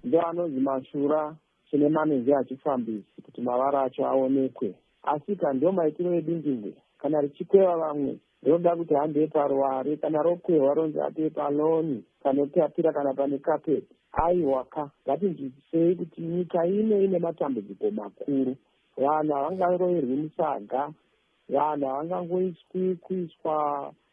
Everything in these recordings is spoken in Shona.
Ndo anonzi mashura chine manenji hachifambisi kuti mavara acho aonekwe. Asika ndo maitiro edindingwe kana richikweva vamwe rinoda kuti hande paruware kana rokwehwa ronzi hande paloni panotapira kana pane carpet. Aiwa ka, ngatinzwisisei kuti nyika ino ine matambudziko makuru. Vanhu havangaroyerwi musaga, vanhu havangangoiswi kuiswa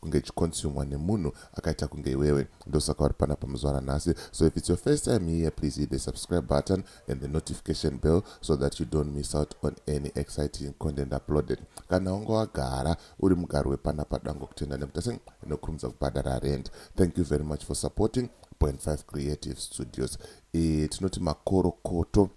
kunge ichikonsumwa nemunhu akaita kunge iwewe ndosaka uri panapa muzvara nhasi so if it's your first time here please hit the subscribe button and the notification bell so that you don't miss out on any exciting content uploaded kana wanga wagara uri mugari wepanapa dango kutenda nekutase inokurumidza kubhadhara rent thank you very much for supporting point 5 creative studios e, tinoti makorokoto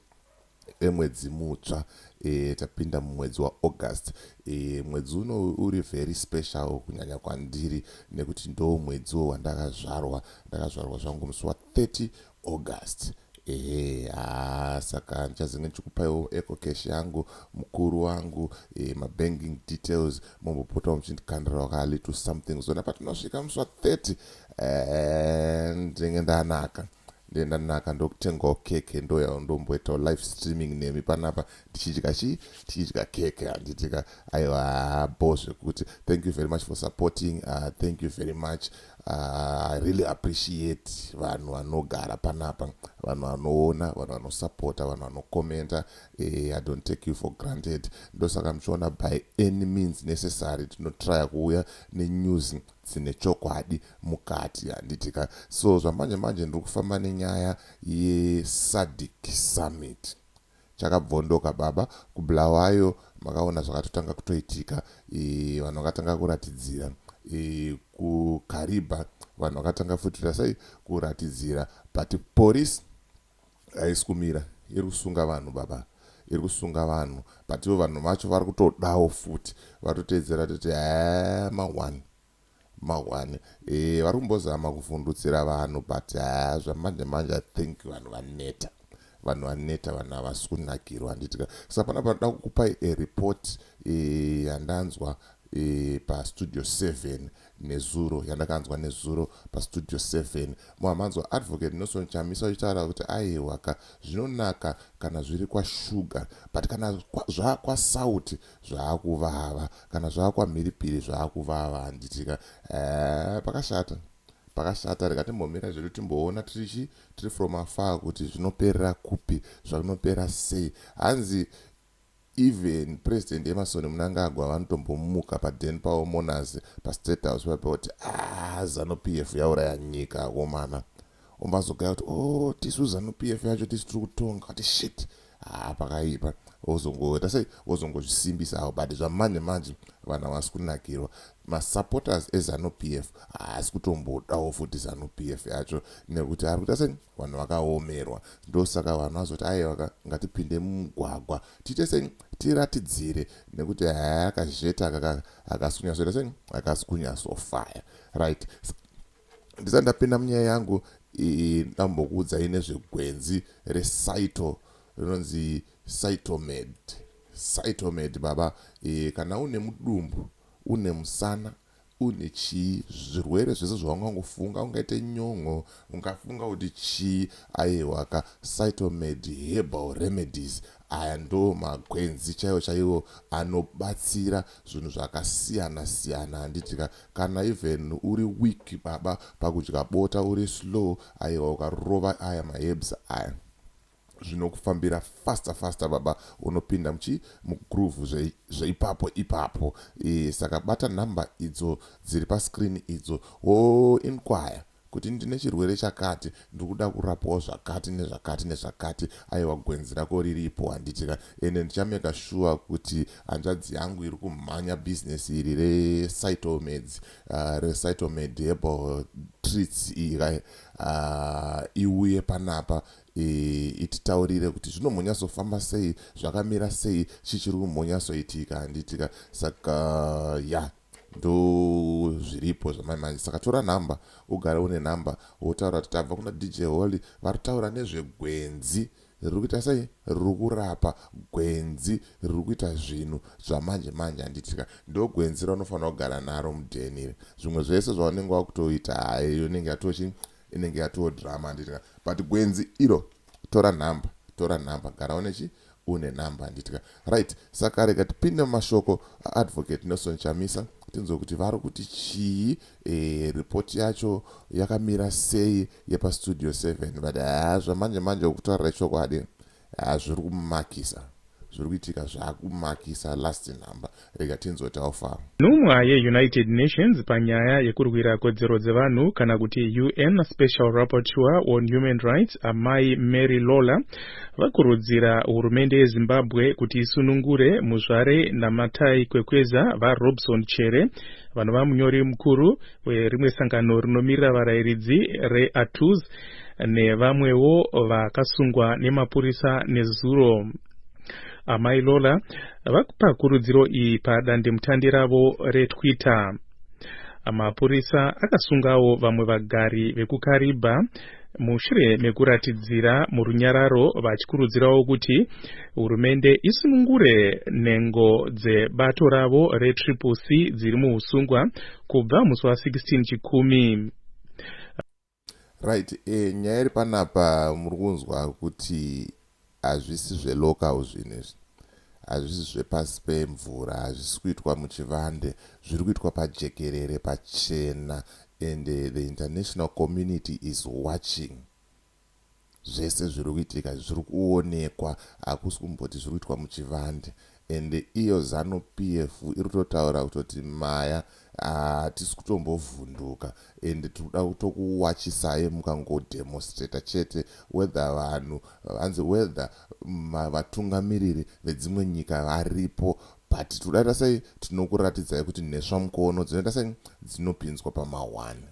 emwedzi mutsva e, tapinda mumwedzi waaugust e, mwedzi uno uri very special kunyanya kwandiri nekuti ndo mwedziwo wandakazvarwa ndakazvarwa zvangu musi wa 30 august ehe haa saka ndichazenge ndichikupaiwo ecocash yangu mukuru wangu e, mabanking details mombopotawo muchindikandirawo ka little something zona patinosvika musi wa 30 e, ndinenge ndanaka ndiye ndanaka ndokutengawo keke ndoyawo ndomboitawo live streaming nemi panapa tichidya chii tichidya keke handitika aiwa bo zvekuti thank you very much for supporting uh, thank you very much uh, i really appreciate vanhu vanogara panapa vanhu vanoona vanhu vanosupporta vanhu vanokomenta eh, i don't take you for granted ndosaka muchiona by any means necessary tinotrya kuuya nenews dzine chokwadi mukati handiti ka so zvamanje manje ndiri kufamba nenyaya yeSADC summit chakabvondoka baba kubulawayo makaona zvakatotanga kutoitika e, vanhu vakatanga kuratidzira e, kukariba vanhu vakatanga futi rasai kuratidzira but police haisi kumira iri kusunga vanhu baba iri kusunga vanhu but ivo vanhu vacho vari kutodawo futi vatoteedzera toti haa mahwani mahwani e, vari kumbozama kuvhundutsira vanhu but haa zvamanje manje i think vanhu vaneta vanhu vaneta vanhu havasi kunakirwa handitika sa pana panoda kukupai ereport e, yandanzwa e, pastudio 7 nezuro yandakanzwa nezuro pastudio seven moamanzwa advocate Nelson Chamisa uchitaura kuti aihwaka zvinonaka kana zviri kwaShuga but kana zvakwasauti zvaakuvava kana zvakwamhiripiri zvaakuvava handitika eh, pakashata pakashata rega timbomira zvedu timboona tirichi tiri from afar kuti zvinoperera kupi zvakunopera sei hanzi Even President Emmerson Mnangagwa vanotombomuka paden pavo Mourners paState House paye voti aah Zanu PF yauraya nyika akomana. Obva azogaya kuti oh tisu Zanu PF yacho tisu tiri kutonga kuti shit haa pakaipa. Vozongoita sei? Vozongozvisimbisa havo but zvamanje manje vanhu havasi kunakirwa. Masupporters eZanu PF haasi kutombodawo futi Zanu PF yacho nekuti ari kuita sei? Vanhu vakaomerwa ndosaka vanhu vazoti aiwa ka ngatipinde mumugwagwa tiite sei tiratidzire nekuti haa kazhet aka ka hakasi kunyatsoita sei hakasi kunyatsofaya right ndisati ndapinda munyaya yangu ndambokuudzai nezvegwenzi resaito rinonzi saitomed saitomed baba e, kana une mudumbu une musana Une chii? Zvirwere zvese zvaungangofunga, ungaite nyon'o, ungafunga kuti chii, ayehwaka, Cytomed Herbal Remedies aya ndoo magwenzi chaiwo chaiwo anobatsira zvinhu zvakasiyana siyana handitika, kana even uri weak baba pakudya bota uri slow ayehwa ukarova aya maherbs aya. zvinokufambira faster faster baba unopinda muchi mugroove zveipapo ipapo e, saka bata number idzo dziri pascreen idzo wo inquire kuti ndine chirwere chakati ndiri kuda kurapwawo zvakati nezvakati nezvakati aiwa gwenzi rako riripo handitika ende ndichameka shuwa kuti hanzvadzi yangu iri kumhanya bhizinesi iri recytomeds uh, ah, recytomed herbal treats iri uh, ah, iuye panapa E, ititaurire kuti zvino mhonyazofamba sei zvakamira sei chii chiri kumhonyasoitika handitika saka ya ndo zviripo zvamai manje saka tora nhamba ugare une nhamba wotaura kuti tabva kuna dj holy vari kutaura nezvegwenzi riri kuita sei riri kurapa gwenzi riri kuita zvinhu zvamanje manje handitika ndo gwenzi raunofanira kugara naro mudheni iri zvimwe zvese zvaunenge wakutoita hayi yonenge yatochi Inenge yatoo drama handiti ka. But gwenzi iro tora number tora number gara une chi une number handiti ka. Right saka rega tipinde mumashoko a Advocate Nelson Chamisa tinzwe kuti vari kuti chii eh, report yacho yakamira sei yepa studio 7 but haa zvamanje manje ukutaurira chokwadi Haa zviri kumakisa zviri kuitika zvakumakisa last number rega tinzwe taofaro. Nhumwa yeUnited Nations panyaya yekurwira kodzero dzevanhu kana kuti UN Special Rapporteur on Human Rights, Amai Mary Lawlor, vakurudzira hurumende yeZimbabwe kuti isunungure Muzvare Namatai Kwekweza, VaRobson Chere, vanova munyori mukuru, Rimwe sangano rinomirira varairidzi reATUZ nevamwewo vakasungwa nemapurisa nezuro. Amai Lola vakupa kurudziro iyi padandemutande ravo reTwitter. Mapurisa akasungawo vamwe vagari vekuKariba mushure mekuratidzira murunyararo vachikurudzirawo kuti hurumende isunungure nhengo dzebato ravo retriple c dziri muusungwa kubva musi wa 16 chikumi right eh, nyaya iri panapa muri kunzwa kuti hazvisi zvelocal zvinhu izvi hazvisi zvepasi pemvura hazvisi kuitwa muchivande zviri kuitwa pajekerere pachena and eh, the international community is watching zvese zviri kuitika izvi zviri kuonekwa hakusi kumboti zviri kuitwa muchivande and iyo zanu pf iri kutotaura kutoti maya hatisi kutombovhunduka and tiri kuda kutokuwachisai mukangodemonstrata chete whether vanhu vanzi whether vatungamiriri vedzimwe nyika varipo but tiri kudaita sei tinokuratidzai kuti nheswa mukono dzinoita sei dzinopinzwa pamahwani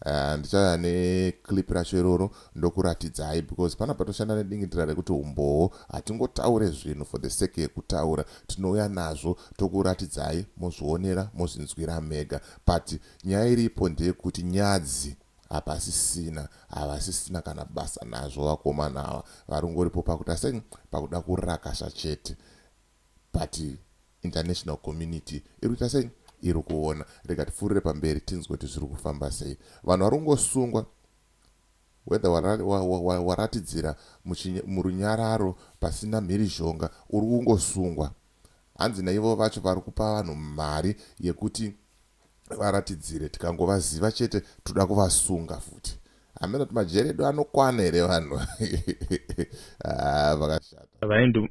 Uh, ndichauya neclip racho iroro ndokuratidzai because pana patoshanda nedingindira rekuti umbowo hatingotaure zvinhu for the sake yekutaura tinouya nazvo tokuratidzai mozvionera mozvinzwira mega but nyaya iripo ndeyekuti nyadzi hapasisina havasisina kana basa nazvo vakomana ava varungoripo pakuti asei pakuda kurakasha chete but international community iri kuita sei iri kuona rega tipfuurire pamberi tinzwe kuti zviri kufamba sei vanhu vari kungosungwa whether waratidzira wa, wa, wa, murunyararo pasina mhirizhonga uri kungosungwa hanzi naivo vacho vari kupa vanhu mari yekuti varatidzire tikangovaziva chete toda kuvasunga futi hameno kuti majeri edu anokwana here vanhu ah, vakashata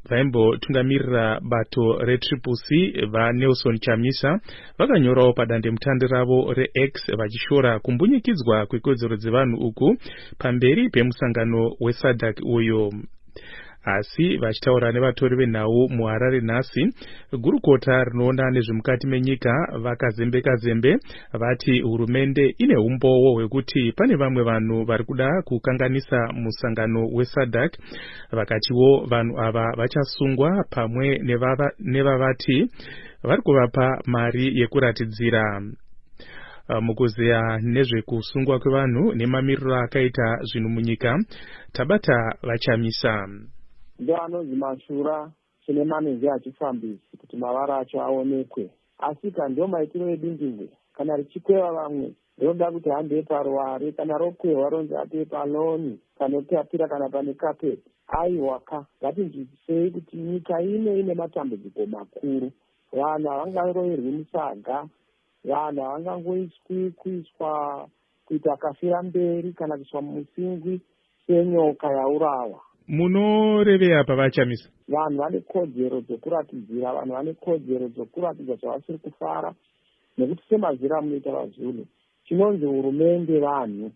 vaimbotungamirira bato retriple c vanelson chamisa vakanyorawo padandemutande ravo rex vachishora kumbunyikidzwa kwekodzero dzevanhu uku pamberi pemusangano wesadak uyu Asi vachitaura nevatori venhau muHarare nhasi, gurukota rinoona nezvemukati menyika VaKazembeka Zembe vati hurumende ine humbowo hwekuti pane vamwe vanhu vari kuda kukanganisa musangano weSADC vakatiwo vanhu ava vachasungwa pamwe nevavati vari kuvapa mari yekuratidzira mukuzeya nezvekusungwa kwevanhu nemamiriro akaita zvinhu munyika Tabata VaChamisa. Ndiwo anonzi mashura tine manenji achifambisi kuti mavara acho aonekwe. Asika ndiwo maitiro edindingwe. Kana richikweva vamwe rinoda kuti handei paruware, kana rokwehwa ronzi atei paloni, panotapira kana pane kapeti. Aiwa ka, ngatinzwisisei kuti nyika ino ine matambudziko makuru. Vanhu havangaroverwi musaga, vanhu havangangoiswi kuiswa kuita kafira mberi kana kuiswa mumusingwi senyoka yaurawa munorevei apa vachamisa vanhu vane kodzero dzokuratidzira vanhu vane kodzero dzokuratidza zvavasiri kufara nekuti semaziro amunoita vazulu chinonzi hurumende vanhu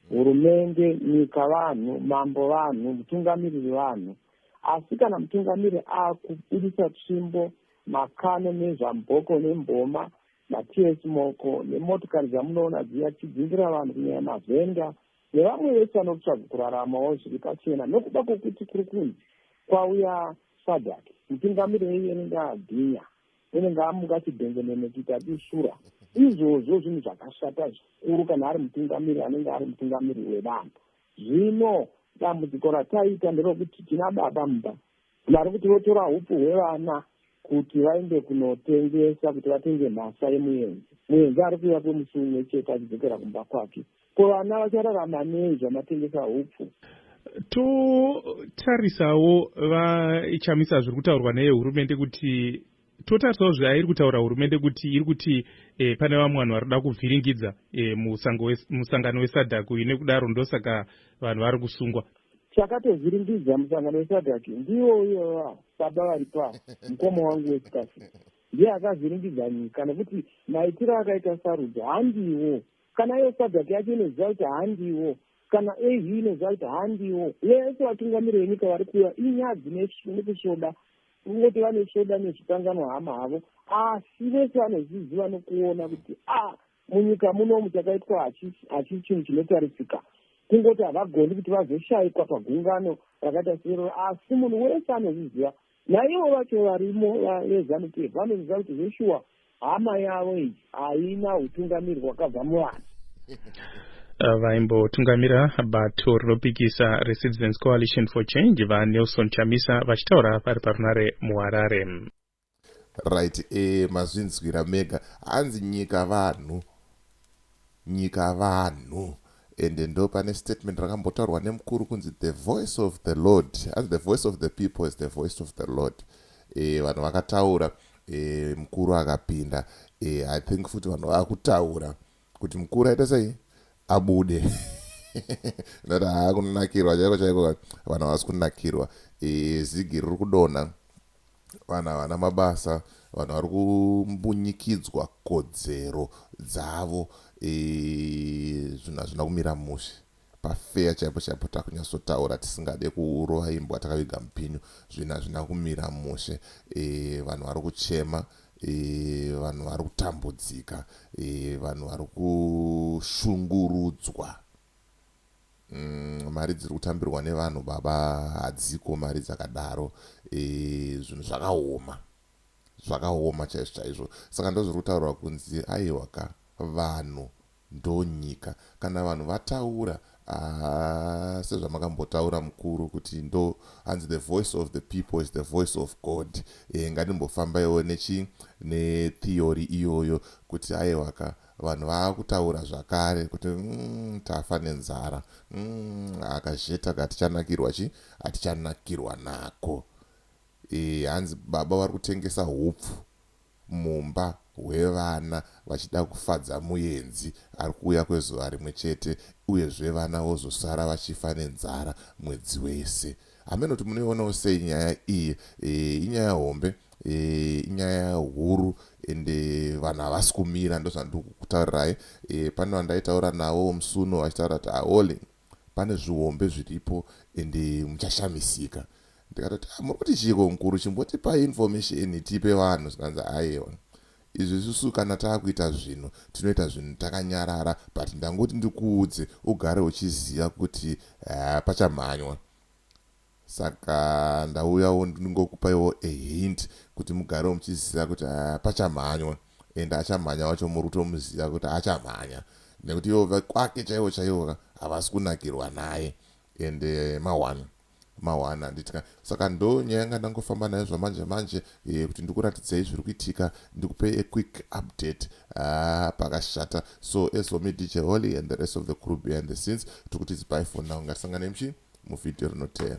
hurumende nyika vanhu mambo vanhu mutungamiriri vanhu asi kana mutungamiriri akubudisa tsvimbo makano nezvamboko nemboma Mathias Moko, Nemotokari dzamunoona dziya tichidzingira vanhu kunyanya mavhenda nevamwe vese vanotsvaga kuraramawo zviri pachena nokuda kwokuti kuri kunzi kwauya sadhaki mutungamiri wenyu anenge agwinya unenge amuka chibhengenene kuita dusura izvozvo zvinhu zvakashata zvikuru kana ari mutungamiri anenge ari mutungamiri wevanhu zvino dambudziko rataita nderokuti tina baba mumba Vari kuti votora hupu hwevana kuti vaende kunotengesa kuti vatenge mhasa yemuenzi. Muenzi ari kuuya kwemusi umwe chete achidzokera kumba kwake. Ko vana vachararama nei zvamatengesa hupfu? Totarisawo VaChamisa zviri kutaurwa nehurumende kuti Totarisawo zvairi kutaura hurumende kuti iri kuti e, pane vamwe vanhu varikuda kuvhiringidza e, musangano wesadak uyu nekudaro ndosaka vanhu vari kusungwa chakatovhiringidza musangano wesadak ndiwo uyoyo baba vari pa mukoma wangu wesikafi ndiye akavhiringidza nyika nekuti maitiro akaita sarudzo handiwo kana iyo sadak yacho inoziva kuti handiwo kana au inoziva kuti handiwo vese vatungamiri venyika vari kuuya inyadzi nekusvoda Kungoti vanosvoda nezvikanganwa hama havo asi vese vanozviziva nokuona kuti a ah, munyika munomu chakaitwa hachisi chinhu chinotarisika kungoti havagoni kuti vazoshayikwa pagungano rakaita seroro asi munhu wese anozviziva naivo vacho varimo vezanup f vanozviziva kuti zveshuwa Hama yavo iyi haina hutungamiri hwakabva muvanhu. Eh, vaimbotungamira bato rinopikisa recitizens coalition for change vanelson chamisa vachitaura vari parunare muharare right e, mazvinzwira mega hanzi nyika vanhu nyika vanhu ende ndopane statement rakambotaurwa nemukuru kunzi the voice of the lord as the voice of the people is the voice of the lord e, vanhu vakataura e, mukuru akapinda e, i think futi vanhu vakutaura kuti mukuru aita sei abude nati haa kunonakirwa chaiko chaiko vanhu havasi kunakirwa e, zigi riri kudonha Vanhu havana mabasa, vanhu vari kumbunyikidzwa kodzero dzavo zvinhu hazvina kumira mushe pafeya chaipo chaipo takunyatsotaura tisingade kurova imbwa takaviga mupinyu zvinhu hazvina kumira mushe e, vanhu vari kuchema e, vanhu vari kutambudzika e, vanhu vari kushungurudzwa Mm, mari dziri kutambirwa nevanhu baba hadziko mari dzakadaro e, zvinhu zvakaoma zvakaoma chaizvo chaizvo saka ndozviri kutaurwa kunzi aiwa ka vanhu ndonyika kana vanhu vataura ah, sezvamakambotaura mukuru kuti ndo hanzi the voice of the people is the voice of god e, eh, ngandimbofambaiwo nechi netheory iyoyo kuti aiwa ka Vanhu vaakutaura zvakare kuti umm tafa nenzara umm aka zheta ka tichanakirwa chi atichanakirwa nako eeh hanzi baba vari kutengesa hupfu mumba hwevana vachida kufadza muyenzi ari kuuya kwezuva rimwe chete uye zve vana vozosara vachifa nenzara mwedzi wese hameno kuti munoionawo sei nyaya iyi eeh inyaya hombe Eh, inyaya huru ende eh, vanhu havasi kumira ndozvandikutaurirai eh, pane vandaitaura navo musuno vachitaura kuti aole ah, pane zvihombe zviripo ende muchashamisika ndikatoti ah, muri kuti chiiko mukuru chimbotipa information tipe vanhu zvikanzi ayewa izvi isusu kana taakuita zvinhu tinoita zvinhu takanyarara but ndangoti ndikuudze ugare uchiziva kuti eh, pachamhanywa Saka ndauyawo ndingokupaiwo a hint kuti mugarewo muchiziva kuti pachamhanywa and achamhanya wacho muri kutomuziva kuti achamhanya nekuti ivo vekwake chaivo chaivo havasi kunakirwa naye and eh, mahwani mahwani handiti ka saka ndo nyaya yanga ndangofamba nayo zvamanje manje kuti ndikuratidzei zviri kuitika ndikupei a quick update haa pakashata so as for me dj holy and the rest of the crew behind the scenes tikuti zibai for now ngatisanganei mchi muvhidhiyo rinoteera